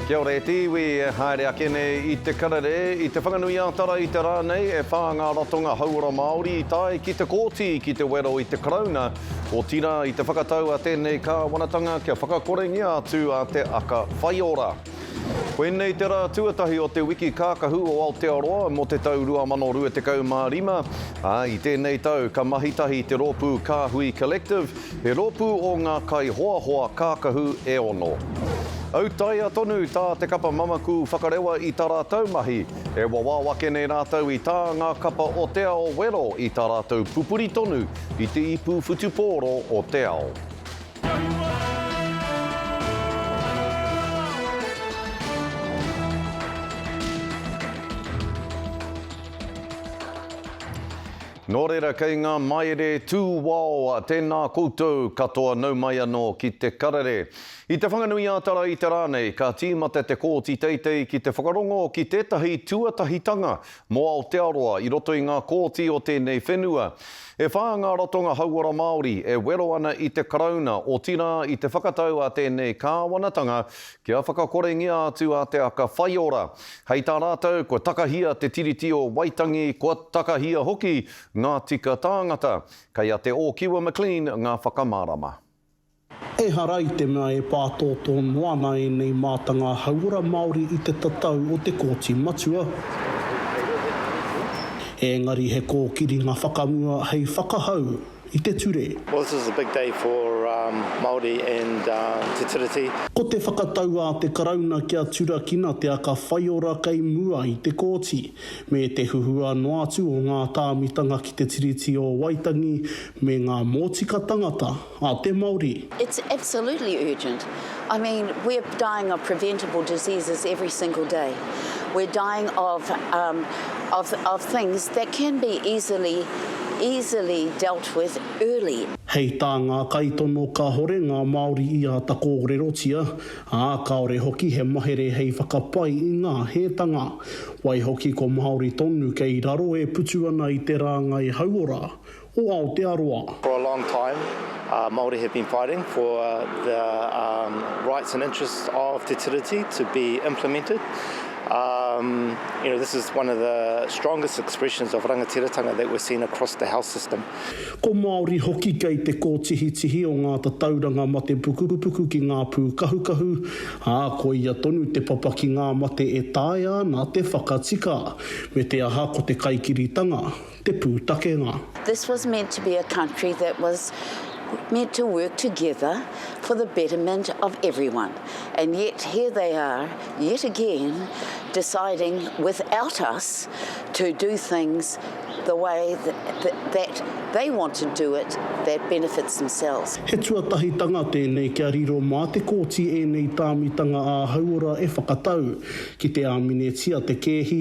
Kia ora e te iwi, e haere ake nei i te karere, i Te Whanganui-ā-Tara i te rā nei e whā ngā ratonga hauora Māori i tae ki te Kōti ki te wero i te Karauna, otirā i te whakatau a tēnei Kāwanatanga kia whakakorengia atu a Te Aka Whaiora. Koinei te rā tuatahi o te Wiki Kākahu o Aotearoa mō te tau 2025, ā, i tēnei tau ka mahitahi te rōpū Kāhui Collective He rōpū o ngā kaihoahoa kākahu e ono. Autaia tonu tā Te Kapa Mamaku whakarewa i tā rātou mahi, e wawao ake nei rātou i tā ngā kapa o Te Ao wero i tā rātou pupuri tonu i te ipu whutupōro o te ao. Nō reira kei ngā maere tū wao tēnā koutou katoa nau mai anō ki te karere. I Te Whanganui-ā-Tara i te rā nei ka tīmata te Kōti Teitei ki te whakarongo ki tētahi tuatahitanga mō Aotearoa i roto i ngā kōti o tēnei whenua. E whā ngā ratonga hauora Māori e wero ana i te Karauna otirā i te whakatau a tēnei kāwanatanga kia whakakorengia atu a Te Aka Whaiora. Hei tā rātou, kua takahia te Tiriti o Waitangi, kua takahia hoki ngā tika tāngata. Kei a Te Ōkiwa McLean ngā whakamārama. Ehara i te mea e pātōtō noa ana ēnei mātanga hauora Māori i te tatau o te Kōti Matua, ēngari he kōkiringa whakamua hei whakahau i te ture. Well this is a big day for Māori and Te Tiriti. Ko te whakatau a te Karauna kia turakina te aka whaiora kei mua i te Kōti, me te huhua noa atu o ngā tāmitanga ki te Tiriti o Waitangi me ngā mōtika tangata a te Māori. It's absolutely urgent. I mean, we're dying of preventable diseases every single day. We're dying of um, of, of things that can be easily, easily dealt with early. Hei tā ngā kaitono kāhore ngā Māori i āta kōrerotia, ā, kāore hoki he mahere hei whakapai i ngā hētanga. Waihoki ko Māori tonu kei raro e putu ana i te rāngai hauora, o Aotearoa. For a long time, Māori have been fighting for the rights and interests of Te Tiriti to be implemented. You know, this is one of the strongest expressions of rangatiratanga that we've seen across the health system. Ko Māori hoki kei te kōtihitihi o ngā tatauranga mate pukupuku ki ngā pūkahukahu, ā, koia tonu te papa ki ngā mate e taea ana te whakatika. Me te aha ko te kaikiritanga, te pūtakenga. This was meant to be a country that was meant to work together for the betterment of everyone and yet here they are yet again deciding without us to do things the way that they want to do it that benefits themselves. He tuatahitanga tēnei kia riro mā te kōti ēnei tāmitanga ā-hauora e whakatau, ki te āminetia te kēhi,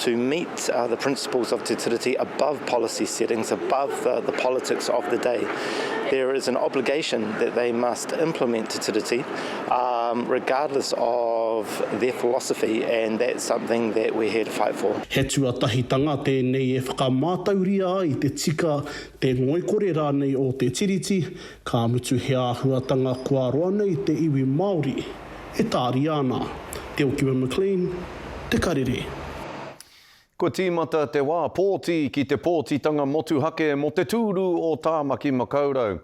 to meet the principles of Te Tiriti above policy settings, above the, the politics of the day. There is an obligation that they must implement Te Tiriti um, regardless of their philosophy and that's something that we're here to fight for. He tuatahitanga tēnei e whakamātauria ai te tika, te ngoikore rānei o Te Tiriti, ka mutu he āhuatanga kua roa nei te iwi Māori. e tāria ana e Okiwe McLean te karere. Kua tīmata te wā pōti ki te pōtitanga motuhake mō te tūru o Tāmaki Makaurau.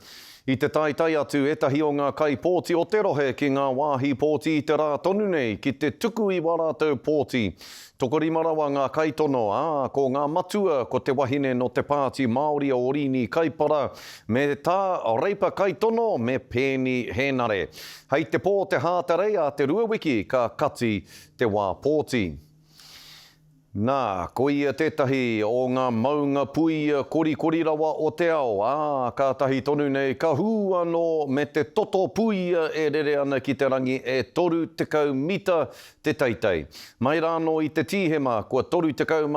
I te taetae atu ētahi o ngā kaipōti o te rohe ki ngā wāhi pōti i te rā tonu nei ki te tuku i wā rātou pōti Tokorima rawa ngā kaitono, ā, ko ngā matua ko te wahine nō te Pāti Māori o Orini Kaipara me tā Reipa Kaitono me Peeni Hēnare. Hei te pō te Hātarei a te rua wiki ka kati te wā pōti. Nā, ko ia tētahi o ngā maunga puia korikori rawa o te ao, ā, kātahi tonu nei ka hū anō me te toto puia e rere ana ki te rangi e 30 mita te teitei. Mai rānō i te Tīhema kua 31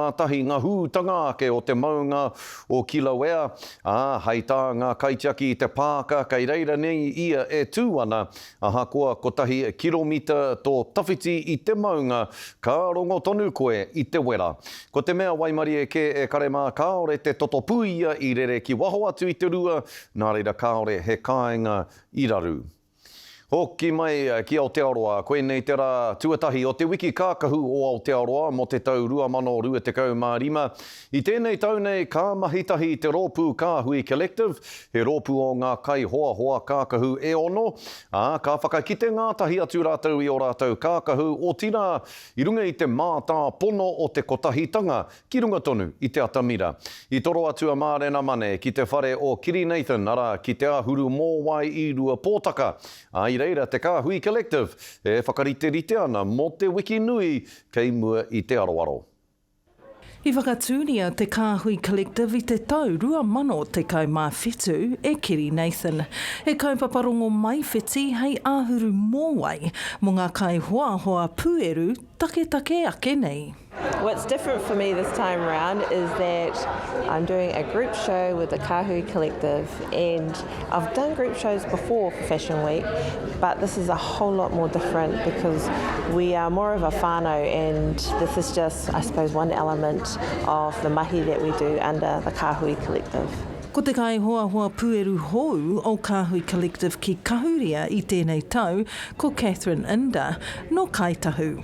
ngā hūtanga ake o te maunga o Kilauea, ā, hei tā ngā kaitiaki i te pāka kei reira nei ia e tū ana, ahakoa kotahi kiromita tō tawhiti i te maunga, ka rongo tonu koe i te wera. Ko te mea waimarie kē e kare mā kāore te toto puia i rere ki waho atu i te rua, nā reira kāore he kāinga i raru. Hoki mai ki Aotearoa, koinei te rā tuatahi o te Wiki Kākahu o Aotearoa mō te tau 2025. I tēnei tau nei ka mahi tahi te rōpū Kāhui Collective, he rōpū o ngā kaihoahoa kākahu e ono, ā, ka whakakite ngātahi atu rātou i ō rātou kākahu, otirā, i runga i te mātāpono o te kotahitanga Ki runga tonu i te atamira. I toro atu a Mārena Mane ki te whare o Kiri Nathan, arā, ki Te Āhuru Mōwai i Ruapōtaka, ā, i reira te Kāhui Collective e whakariterite ana mō te wiki nui kei mua i te aroaro. I whakatūria te Kāhui Collective i te tau 2017 e Kiri Nathan, he kaupapa rongomaiwhiti hei āhuru mōwai mō ngā kaihoahoa pūeru taketake ake nei. What's different for me this time around is that I'm doing a group show with the Kahui Collective and I've done group shows before for Fashion Week but this is a whole lot more different because we are more of a whānau and this is just I suppose one element of the mahi that we do under the Kahui Collective. Ko te kaihoahoa pueru hou o Kahui Collective ki Kahuria i tēnei tau ko Catherine Inda, nō Kāi Tahu.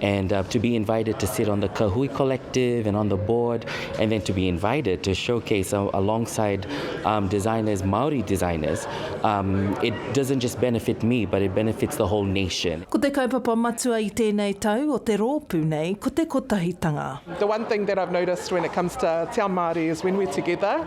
and uh, to be invited to sit on the Kahui Collective and on the board, and then to be invited to showcase uh, alongside um, designers, Maori designers, um, it doesn't just benefit me, but it benefits the whole nation. Ko te kaupapa matua i tēnei tau o te rōpū nei ko te kotahitanga. The one thing that I've noticed when it comes to Te Ao Māori is when we're together,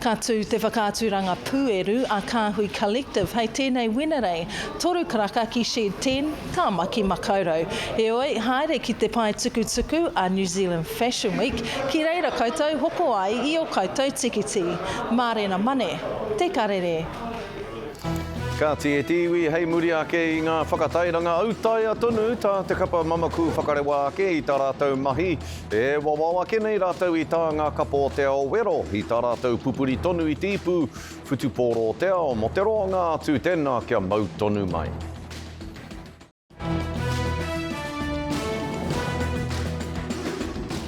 Ka tū te whakaaturanga pūeru a Kāhui Collective hei tēnei Wenerei, toru karaka ki Shed 10, Tāmaki Makaurau. Heoi, haere ki te pae tukutuku a New Zealand Fashion Week ki reira koutou hoko ai i ō koutou tikiti. Mārena Mane, Te Karere. Kāti e te iwi hei muri ake i ngā whakatairanga autaia tonu tā te kapa Mamaku Whakarewa ake i tā rātou mahi. E wawao ake nei rātou i tā ngā kapa o te ao wero, i tā rātou pupuri tonu i te ipu whutupōro o te ao, mō te roanga atu tēnā kia mau tonu mai.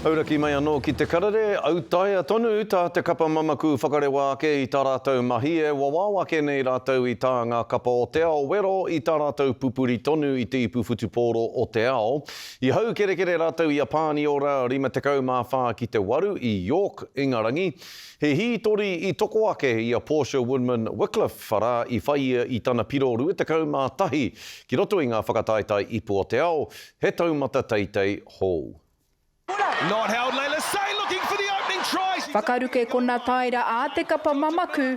Auraki mai anō ki te karere, autaia tonu tā te kapa mamaku whakarewa ake i tā rātou mahi, e wawao ake nei rātou i tā ngā kapa o te ao wero, i tā rātou pupuri tonu i te ipu whutupōro o te ao, I haukerekere rātou i a Pāniora 54 ki te 8 i York, Ingarangi. He hītori i toko ake i a Portia Woodman Wickliffe arā i whai ia i tana piro 21 ki roto i ngā whakataetae ipu o te ao, he taumata teitei hou. Whakaruke kona taera ā te kapa mamaku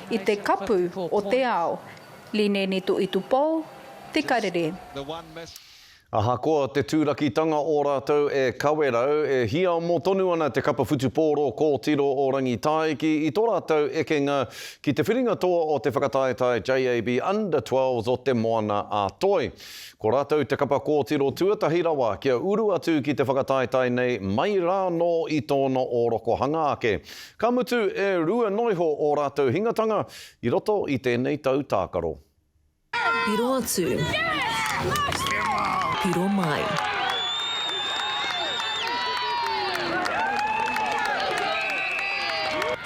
i te kapu o te ao, Lineni Tuitupou, Te Karere. Ahakoa te tūrakitanga o rātou e Kawerau, e hiamo tonu ana te kapa whutupōro kōtiro o Rangitāiki i tō rātou ekenga ki te whiringa toa o te whakataetae JAB Under 12s o Te Moana a Toi. Ko rātou te kapa kōtiro tuatahi rawa kia uru atu ki te whakataetae nei mai rānō i tōna ōrokohanga ake. Ka mutu e rua noiho ō rātou hingatanga i roto i tēnei tau tākaro. Piro atu. Piro mai.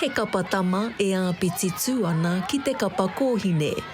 He kapa tama e āpiti tū ana ki te kapa kōhine.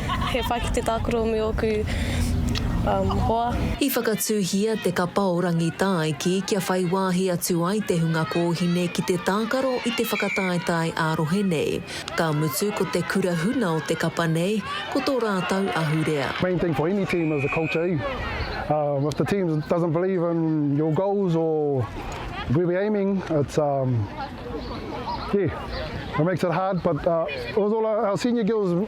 He pai ki te tākuromi ōku hoa. I whakatūhia te kapa o Rangitāiki kia whai wāhi atu ai te hunga kōhine ki te tākaro i te whakataetae ā-rohe nei. Ka mutu ko te kura huna o te kapa nei, ko tō rātou ahurea. Main thing for any team is the culture eh umm if the team doesn't believe in your goals or where we're aiming it's umm yeah it makes it hard but it was all our senior girls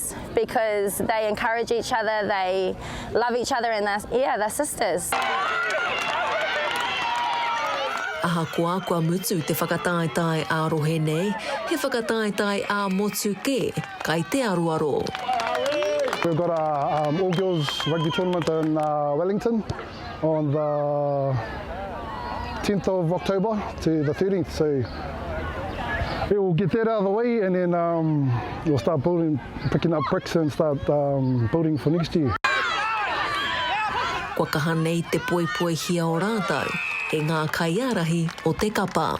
It's because they encourage each other, they love each other and they're, yeah, they're sisters. Ahakoa kua mutu te whakataetae ā-rohe nei, he whakataetae ā-motu kē, kai te aroaro. We've got our all girls rugby tournament in Wellington. on the 10th of October to the 13th, so it will get that out of the way and then um, we'll start building, picking up bricks and start um, building for next year. Kua kaha nei te poipoihia o rātou e ngā kaiārahi o te kapa.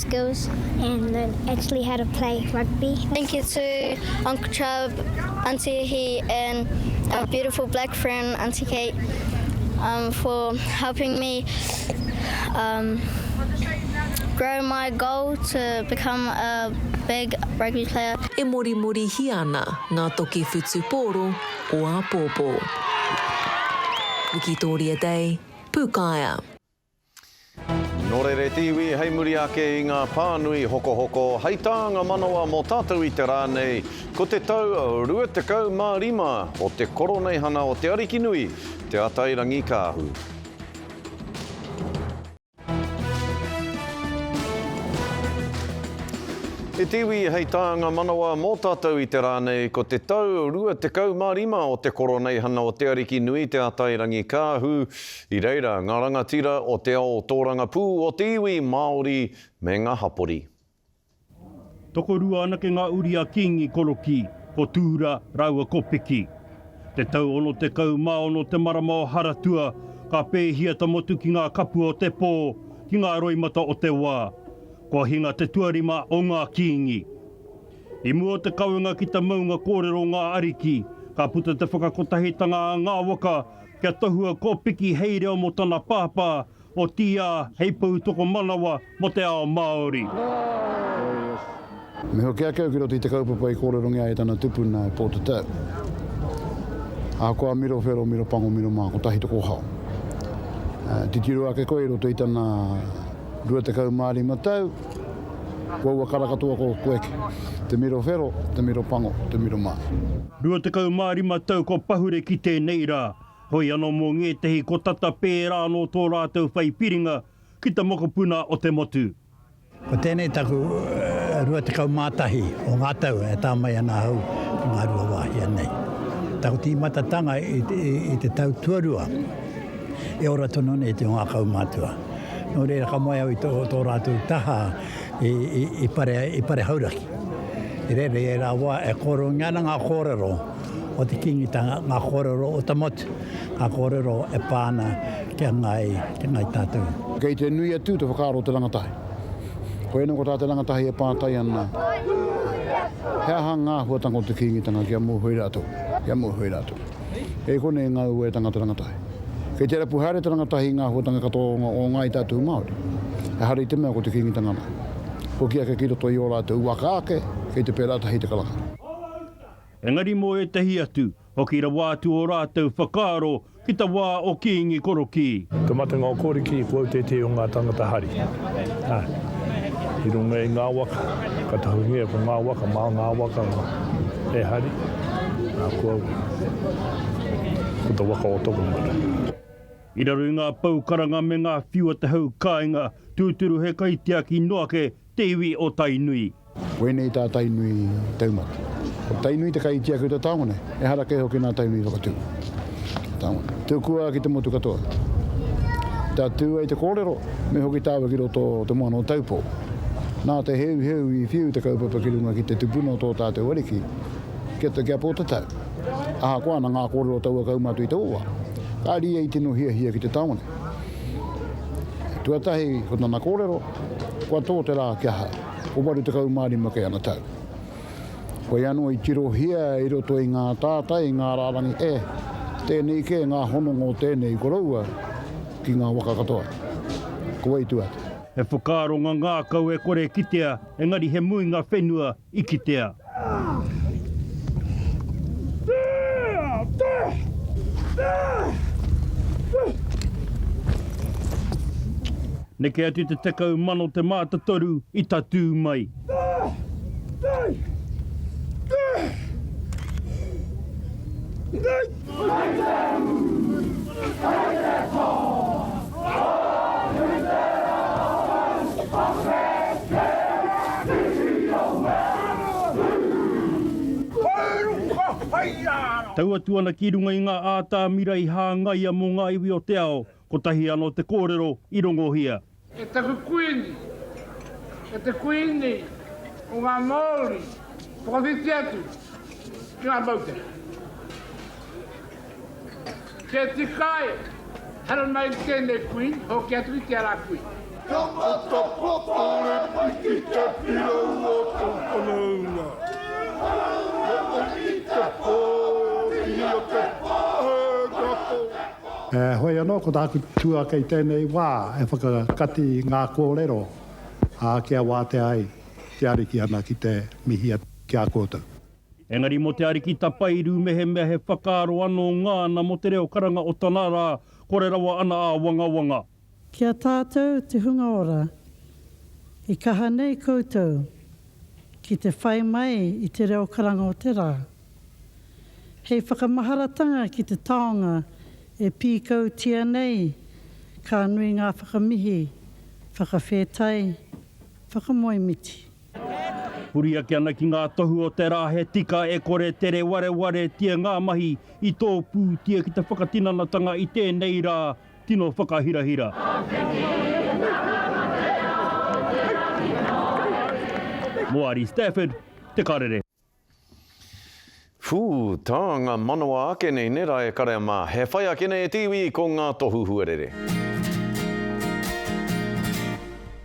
skills and learn actually how to play rugby. Thank you to Uncle Chub, Auntie Ihi and our beautiful black friend Auntie Kate um, for helping me um, grow my goal to become a big rugby player. E mori mori hia ana ngā toki whutu pōro o āpōpō. Wikitoria Day, Pūkaea. Nō reira e te iwi hei muri ake i ngā pānui hokohoko hei tā ngā manawa mō tātou i te rā nei, ko te tau 25 o te Koroneihana o Te Arikinui, Te Atairangikaahu. E te iwi hei tā ngā manawa mō tātou i te rā nei, ko te tau 25 o te Koroneihana o Te Arikinui, Te Atairangikaahu, I reira ngā rangatira o te ao tōrangapū o te iwi Māori me ngā hapori. Tokorua anake ngā uri a Kīngi Korokī, ko Tūra rāua ko Piki. Te tau 66 te marama o Haratua, ka pēhia ta motu ki ngā kapua o te pō, ki ngā roimata o te wā. Kua hinga te tuarima o ngā Kīngi. I mua o te kawenga ki ta maunga kōrero o ngā ariki, ka puta te whakakotahitanga a ngā waka Kia tohua ko Piki hei reo mo tana pāpā, otiia hei pou tokomanawa mo te ao Māori. Me hoki ake au ki roto i te kaupapa i kōrerongia ai e tana tupuna, e Pōtatau. Ahakoa miro whero, miro pango, miro mā, kotahi te kōhao. Titiro ake koe i roto i tana 25 tau, Kua ua kara katoa ko Koeke. Te miro whero, te miro pango, te miro mā. Rua tekau mā rima tau kua pahure ki tēnei rā, hoi anō mō ngētehi kua tata pērā anō tō rātou whai piringa ki te mokopuna o te motu. Ko tēnei taku rua tekau mā tahi o ngā tau e tā mai ana ahau ki ngā rua wāhia nei. Taku tīmatatanga i te tau tuarua, e ora tonu ana i te o ngā kaumātua. Nō reira ka moe au i tō, tō rātou taha i, i, i, pare, i pare hauraki. I reira i ērā wā e kōrungia ana ngā kōrero o te kīngitanga, ngā kōrero o te motu, ngā kōrero e pā ana ki a Ngāi, ki a Ngāi Tātou. Kei te nui atu te whakaaro o te rangatahi. Koianei ko tā te rangatahi e pātai ana, He aha ngā āhuatanga o te kīngitanga kia mōhio rātou, kia mōhio rātou? Kei konei ngā uaetanga te rangatahi. Kei te rapu haere te rangatahi i ngā āhuatanga katoa o ngā i tātou Māori. Ehara i te mea ko te Kīngitanga anō. Hoki ake ki roto i ō rātou waka ake, kei te pērā tahi te karanga. Engari mō ētahi atu, hoki rawa atu ō rātou whakaaro ki te wā o Kīngi Korokī. Te matenga o Korokī ko autētē o ngā tāngata hari. I runga i ngā waka, ka tahuhia ko ngā waka mā ngā waka e hari, nā kua ua, ko te waka o Tokomaru. I raro i ngā pou karanga me ngā whiu a te hau kāinga, tūturu he kaitiaki noa ake te iwi o Tainui. Wēnei tā Tainui Taumata. Ko Tainui te kai i tiaki o te taonga nei. Ehara kē hoki nā Tainui i whakatū te taonga nei. Tukua ki te motu katoa. Tatū ai te kōrero, me hoki tāua ki roto o te moana o Taupō. Nā te heuheu i whiu te kaupapa ki runga ki te tupuna o tō tātou ariki ki a, ki a Pōtatau. Ahakoa ana ngā kōrero o taua kaumātua i taua wā, ka rīa i tino hiahia ki te taonga nei. Tuatahi, ko tana kōrero, Kua tō te rā kia hau. Ko 85 kei ana tau. Koia anō i tirohia i roto i ngā tātai, i ngā rārangi, e, tēnei kē ngā hononga o tēnei koroua ki ngā waka katoa. Ko wai tua atu? He whakaaro ngangākau e kore e kitea, engari he muinga whenua i kitea. Neke atu te tekau mano te mātatoru i tatū mai. Neke atu te tekau mano te mātatoru i tatū mai. Tau atu ana ki runga i ngā ātamira i hāngaia mō ngā iwi o te ao, Kotahi ano te korero i rongohia. E taku Kuini, e te Kuini o nga Maori, whakawhiti atu ki nga moutere. Kia tikai haramai ki tenei Kuini, hoki atu ki te ara Kuini. Kia matapā kore mai ki te pirau o tōu whanaunga. He ongi te pō, ia te pā e ngako. Heoi anō, ko tāku tūāke i tēnei wā e whakakati i ngā kōrero ā kia wātea ai te Ariki ana ki te mihi atu ki a koutou. Engari mō te Ariki tapairu mehemea he whakaaro anō ngāna mō te reo karanga o tana rā, kore rawa ana āwangawanga. Ki a tātou te hunga ora, i kaha nei koutou ki te whai mai i te reo karanga o te rā. Hei whakamaharatanga ki te taonga e pīkautia nei ka nui ngā whakamihi, whakawhētai, whakamoemiti. Huri ake ana ki ngā tohu o te rā he tika e kore tere warewaretia ngā mahi i tōpūtia ki te whakatinanatanga i tēnei rā Tino whakahirahira. Moari Stafford, Te Karere. Whuu, ta nga manawa ake nei ne ra e karea ma, he whai ake nei e te iwi ko nga tohu huarere.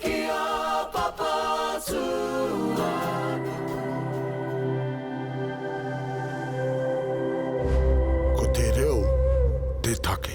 Ki a Papa tuanuku. Ko te reo te take.